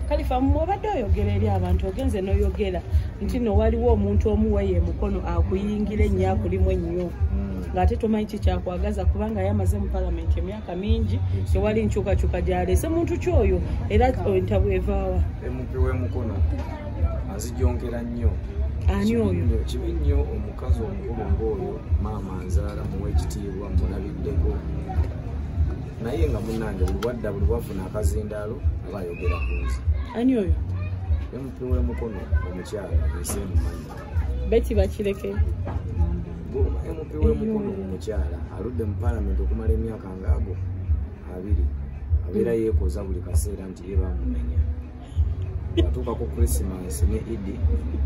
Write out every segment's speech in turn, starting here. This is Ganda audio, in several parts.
kalifa mwobadde oyogera eri abantu ogenze noyogera nti no waliwo omuntu omuweyo emukono akuyingira ennyo akulimu ennyo hmm. ngaate tomanyi kikyakwagaza kubanga yamaze mu palamenti emyaka mingi tewali nkyukakyuka gyalese muntu kyoyo era entabwe evaawa emupi wemukono azijongera nnyo ani oyo kibi nnyo omukazi omukulu ngaoyo maama nzaala muwa ekitiibwa mulabiddeko naye nga munange buli wadda buli wafuna akazindaalo aba ayogera ku nzi ani oyo emupi wemukono omukyala ensi emumanyi beti bakireke emupi wemukono omukyala aludde mu palamenti okumala emyaka ngaago abiri abeera mm. yeekoza buli kaseera nti ye bamunenya atuuka ku krisimas ne idi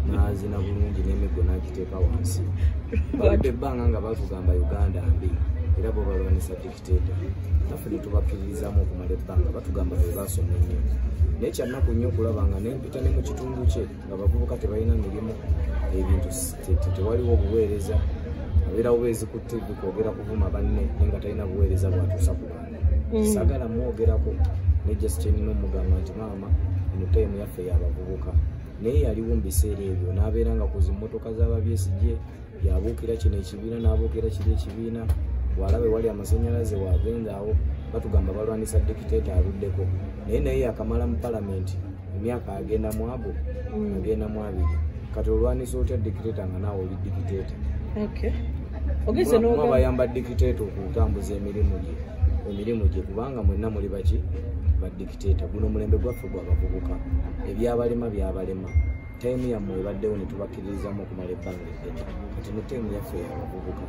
nazina bulungi nemiggo nagiteeka wansi baludde ebbanga nga batugamba uganda mbi era bwebalwanisa naffe netubakkiririzamu okumala ebbanga batugamba be baasoma ennyo naye kyannaku nnyo okulaba nga nempita ne mu kitundu kye nga bavubuka tebalina mirimu ebintu tewaliwo obuweereza abeerawo beezikutte bikwogera kuvuma banne naye nga talina buweereza bwatuusa ku bantu mm. sagala mwogerako ne justinina omugamba nti maama eno taimu yaffe yabavubuka naye yaliwo mu biseera ebyo n'abeera nga ku zimmotoka z'ababyesijye yabuukira kino ekibiina n'abuukira kiri ekibiina bwalaba ewali amasanyalaze wagendaawo batugamba balwanisa dikiteta aluddeko naye naye yakamala mu palamenti emyaka agenda mwago mm. agenda mwabiri kati olwanisa otya dikiteta nga naawe oli dikiteta ogezeabayamba dikiteta okutambuza emirimu gye emirimu gye kubanga mwenna muli baki badikiteta guno omulembe gwaffe gwabavubuka ebyabalema byabalema taimu yammwe ebaddewo ne tubakkiririzaamu okumala ebbanga eddene kati ne taimu yaffe yabavubuka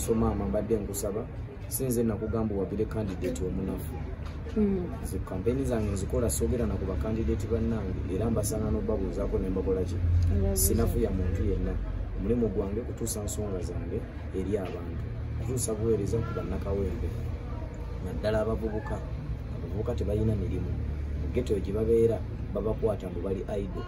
so maama mbadde nkusaba sinze nakugamba owagire kandidati omunafu hmm. nze kampeyini zange nzikola soogera naku bakandidati bannange era mbasanga n'obabuuzaako ne mbakolaki sinafuya muntu yenna omulimu gwange kutuusa nsonga zange eri abantu kutuusa buweereza ku bannakawempe naddala abavubuka abavubuka tebalina mirimu mu geto gye babeera babakwata mbu bali aido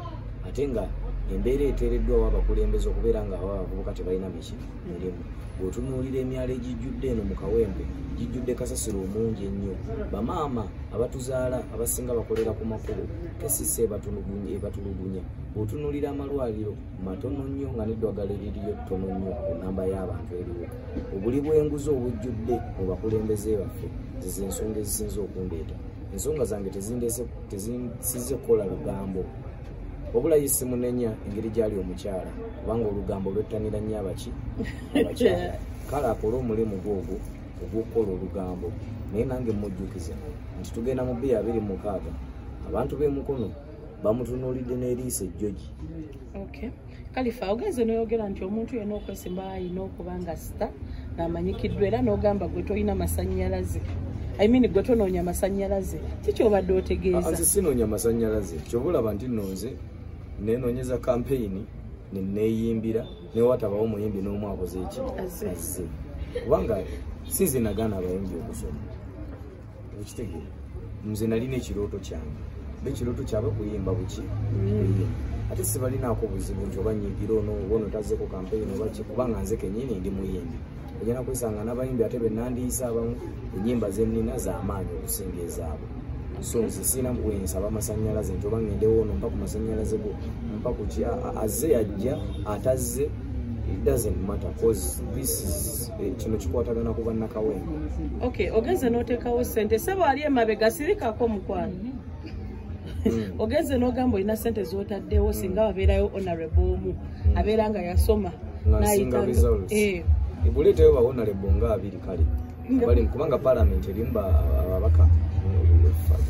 ate nga embeera eteereddwawo abakulembeze okubeera nga aba abavubuka tebalina miki mirimu bweotunuulira emyalo egijjudde eno mu kawempe gijjudde kasasiro omungi ennyo bamaama abatuzaala abasinga bakolera ku makubo kesisa ebatulugunya bweotunuulira amalwaliro matono nnyo nga neddwagala eririyo ttono nnyo ku namba y'abantu eriwo obuli bw'enguzi obujjudde mu bakulembeze baffe zize ensonga ezisinza okundeeta ensonga zange tezisize kukola lugambo wabula ye simunenya engeri gyali omukyala kubanga olugambo lwettanira nnyo abaki abakyala kale akole omulimu gwogwo ogw'okukola olugambo naye nange mmujjukiza nti tugenda mu bbiya abiri mukaaga abantu b'emukono bamutunuulidde n'eriiso ejjogi okay. kalifa ogenze noyogera nti omuntu yena okwesimba ayina okuba nga sita namanyikiddwa era nogamba gwe tolina masanyalaze I mean gwe tonoonya masanyalaze kikyobadde otegeeza ah, sinoonya masanyalaze kyoba olaba nti nonze nenonyeza kampeyini neneyimbira newatabawo muyimbi n'omu akoze eki azze kubanga sinze nagaana abayimbi okusoma okitegere nze nalina ekirooto kyange bekirooto kyabwe kuyimba buki mm. ate sibalinaako buzibu nti oba nyigira ono oba ono tazeko kampeyini oba ki kubanga nze kenyini ndi muyimbi ogenda kwesanga n'abayimbi ate benandiisa abamu enyimba zenina zamaanyi okusinga ezaabwe so nze sirina bwensaba amasanyalaze nti oba ngendewo ono mpa ku masanyalaze go mpa kuki azze yajja atazze it doesn't matter cause this is Eh, kino kikwatagana ku bannakawempe ok ogenze n'oteekawo ssente sebo ali emabega sirikako mukwano hmm. ogenze n'ogamba olina ssente z'otaddewo hmm. singa wabeerayo honorable omu hmm. abeera nga yasoma nasinga results eh. ebuleetayo ba honorable nga abiri kale bali kubanga palamenti erimu ababaka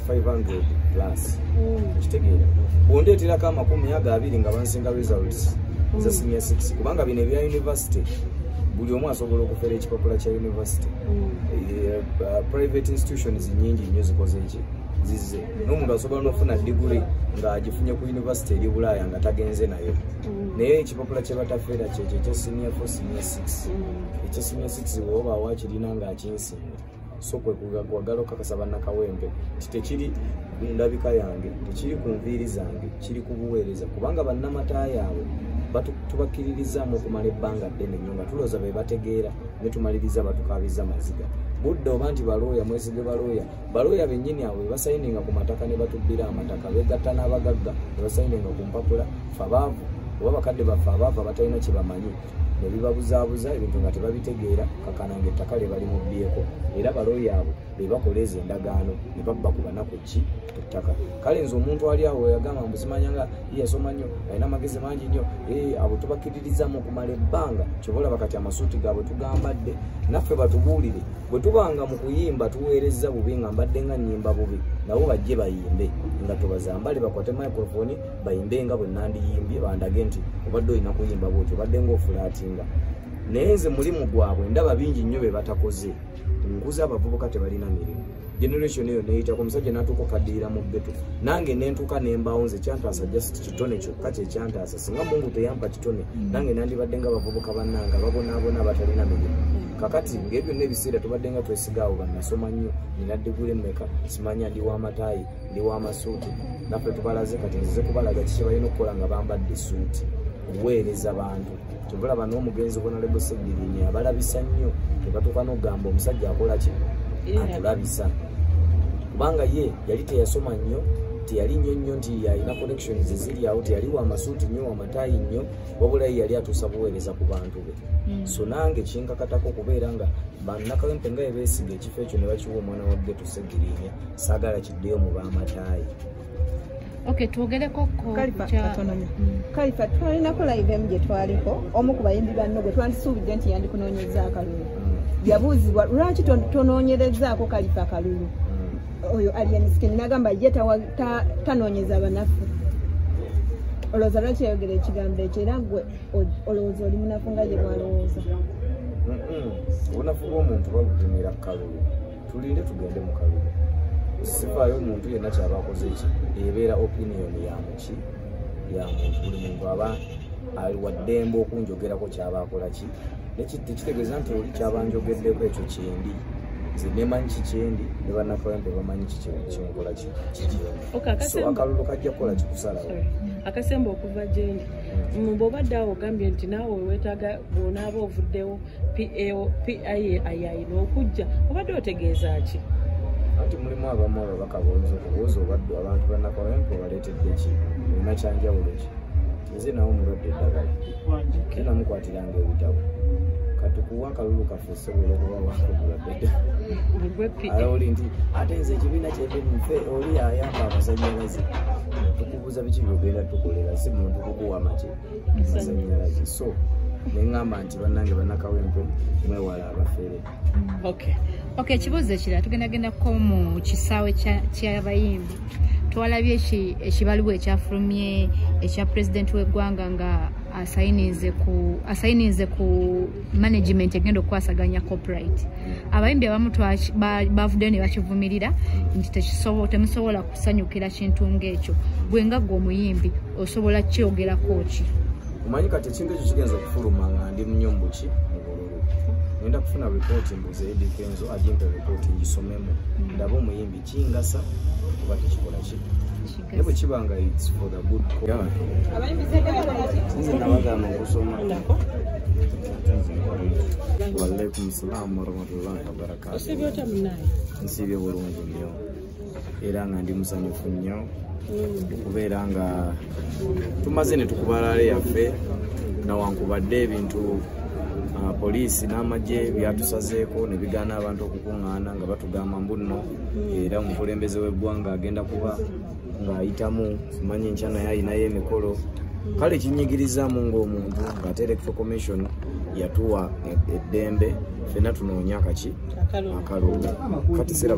500 plus okitegeera bondeeterako amakumi ago abiri nga bansinga results za senior 6 kubanga bino ebya university buli omu asobola okufera ekipapula kya university mm. eh, eh, private institutions nyingi nnyo zikoze eki zize n'omuntu asobola n'okufuna diguli ng'agifunye ku university eri bulaaya nga tagenze nayo mm. naye ekipapula kyebatafeera kyekyo ekya senior fo senior six mm. ekya senior six woba wakirina ng'akinsinga so kwe kwagala okakasa bannakawempe nti tekiri ku ndabika yange tekiri ku nviiri zange kiri ku buweereza kubanga bannamata yaabwe tubakkiririzaamu okumala ebbanga ddene nyo nga tulooza be bategeera ne tumaliriza batukaabizza maziga budde oba nti balooya mwezige balooya balooya bennyini abo bebasayininga ku mataka ne batubbira amataka beegatta n'abagagga ne basayininga ku mpapula fabaavu oba bakadde baffe abaavu abatalina kye bamanyi nebibabuzaabuza ebintu nga tebabitegeera kakana nga ettaka lyebali mubbyeko era balooya abo bebakola ezo endagaano nebabba ku banaku ki ettaka kale nze omuntu ali awo yagamba mbuzimanya nga yeyasoma nnyo alina amagezi mangi nnyo eh, abo tubakkiririzamu okumala ebbanga kyobaolaba kati amasuuti gaabwe tugambadde naffe batubuulire bwe tubanga mu kuyimba tuweerezza bubi nga mbadde nga nyimba bubi nabo bajje bayimbe nga tubazambale bakwate microfoni bayimbe nga bwe nandiyimbye bandage nti obadde olina kuyimba bwoti obadde ngaofulaatinga naye nze mulimu gwabwe ndaba bingi nnyo be batakoze nkuza abavubuka tebalina mirimu generation eyo neyitako omusajja natuuka okaddirira mu bbeto nange nentuuka nembaawo nze kyantaasa just kitone kyokka kyekyantaasa singa mungu teyampa kitone mm. nange nandibadde nga bavubuka bannanga babonaabona abatalina mirimu kakati ngaebyo nebiseera tubadde nga twesigaawo bannasoma nnyo nina digule mmeka simanya ndi w'amataayi ndi wa masuuti naffe tubalaze kati nzize kubalaga kiki balina okukola nga bambadde esuuti kuweereza bantu kyovulaba n'omugenzi obonalebo segirinya abalabisa nnyo tebatuuka n'okugamba omusajja akola ki atulabisa kubanga ye yali teyasoma nnyo teyali nnyo nnyo nti yalina connections eziri awo teyali wamasuuti nnyo wamataayi nnyo wabulayi yali atuusa buweereza ku bantu be hmm. so nange kinkakatako okubeera nga bannakawempe nga ebeesiga ekifo ekyo ne bakiwa omwana wa geto segirinya sagala kiddeyo mu bamatayi Okay, twogereko ko kalifa twalinako live emu gye twaliko omu ku bayimbi banno gwe twandisuubidde nti yandikunoonyeza akalulu yabuuzibwa lwaki tonoonyerezaako kalifa akalulu oyo alienskin nagamba ye tanoonyeza banafu olowooza lwaki yayogera ekigambo ekyo era gwe olowooza oli munafu nga gye bwalowooza obunafu bw'omuntu babupimira kalulu tulinde tugende mu kalulu sifaayo omuntu yenna kyaba akoze ki ebeera opinion ya muki ya muntu buli muntu aba ali waddembe okunjogerako kyaba akola ki tekitegeeza nti oli kyaba njogeddeko ekyo kyendi nze nemanyi kikyendi ne bannakawempe bamanyi kikyenkola kikyendi akalulu kajja kukola kikusalawo akasemba okuva gyendi hmm. bwobadde awo ogambye nti naawe wetaaga bwonaaba ovuddewo payayina okujja obadde otegeeza ki anti mulimu abamu ababaka bonza okubuuza obaddu abantu banakolempa obaleetedde ki olina kyanjawulo ki nze nawe omulwadde eddagala ke namukwatiranga ebitabo katukuwa akalulu kaffe osobola okuba wakubuladdeoli nti ate nze ekibiina kyebimufe oli ayamba amasanyalaze tukubuuza biki byogenda tukolera si muntu kukuwa make amasannyalaze so neŋamba nti bannange bannakawempe mwewala abafere ok ekibuuzo ekirala tugendagendako mu kisaawe kyabayimbi twalabye ekibaluwa ekyafulumye ekya pulezidenti w'eggwanga nga asayinize ku management egenda okukwasaganya copyright abayimbi abamu bavuddeyo ne bakivumirira nti temusobola kusanyukira kintu ng'ekyo gwe nga gwe omuyimbi osobola kyogerako ki omanyi kati ekintu ekyo kigenza okufuluma nga ndi munyo mubuki mubululu ngenda kufuna ripooti mbuze edikenzo ajimpe ripooti ngisomemu mm. ndaba omuyimbi kingasa kuba tekikola ki naye bwe kiba nga its for the good nze nabagana okusoma walaikum salamu warahmatullahi wabarakatu nsiibye bulungi nyo era nga ndi musanyufu nnyo okubeera nga tumaze ne tukubalaale yaffe nawankubadde ebintu ah, poliisi n'amagye byatusazeeko ne bigaana abantu okukuŋŋaana nga batugamba mbu nno era omukulembeze w'eggwanga agenda kuba ng'ayitamu simanyi nkya naye alinayo emikolo kale kinyigirizamu ng'omuntu ng'ate electro commission yatuwa e-, eddembe fenna tunoonya kaki akalulu kati siraba